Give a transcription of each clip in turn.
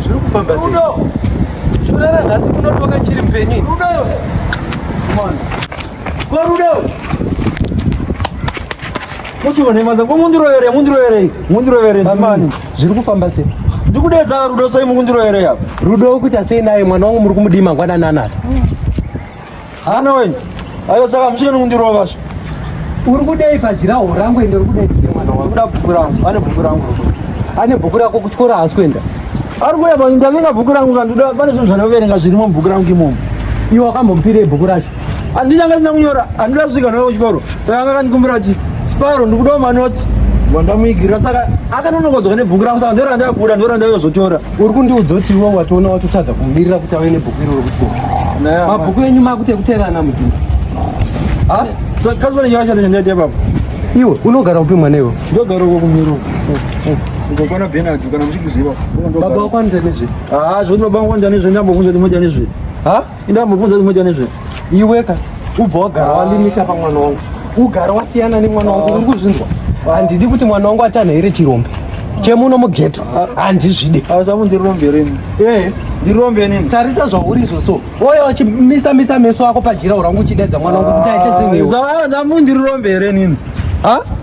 zviri kufamba sei shura ranhasi kunotoka chiri mpenyu korudo muchione manda ko mundiroyere mundiroyere mundiroyere amani zviri kufamba sei ndikudedza rudo sei mukundiroyere apa rudo ukuita sei naye mwana wangu muri kumudii mangwanani anaka Hana wenyu. Ayo saka mchino nundiro vasho. Uri kudei pajira horangu ende uri kudei tsike mwana wangu. Kuda bhuku rangu. Ane bhuku rangu. Ane bhuku rako kuchikora haasi kuenda. Ari kuya pa ndavinga bhuku rangu kanduda pane zvinhu zvanoverenga zvirimo bhuku rangu imomo. Iwe wakambomupirei bhuku racho? Andina ngasina kunyora, andina kusvika nawo kuchikoro. Saka akandikumbira chi Sparo ndikudawo manotsi. Wandamuigira saka akanonokodzwa nebhuku rangu saka ndoranda kuda ndoranda yozotora. uri kundiudza kuti iwe watoona watotadza kumirira kuti ave nebhuku iroro kuti mabhuku enyu makuti ekuteerana mudzimba kazivanenyaashatanyandiatepapa iwe unogara upi mwana iwe ndogara uko kumiro ukokwana benard kana muchikuziva baba wakwanitanezve haa zvokuti baba wakwanitanezve ndambovunza ndimotanezve ha Inda mubvunza kuti moita nezve. Iweka ubva wagara walimita pamwana wangu. Ugara wasiyana nemwana wangu uri kuzvinzwa. Handidi kuti mwana wangu atane here chirombe. Chemuno mugeto handizvide. Hausamu ndirombe remi. Eh, ndirombe nini? Tarisa zvauri izvo so. Oya wachimisa misa meso ako pajira urangu uchidedza mwana wangu kuti aite zimwe. Zvawa ndamu ndirombe here nini? Ha?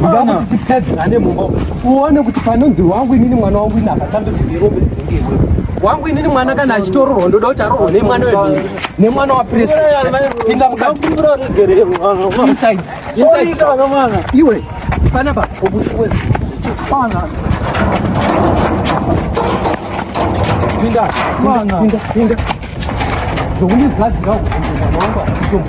Uda kuti tipedzerane mumba uone kuti panonzi wangu inini mwana wangu ini akatambe kudirombe dzinenge iwe wangu inini mwana kana achitororwa ndoda kuti arorwa nemwana wemhiri nemwana wapresipinda mukati iwe panapa obusiwe pana pinda pinda pinda pinda zvokundizadzira kuti mwana wangu achitombo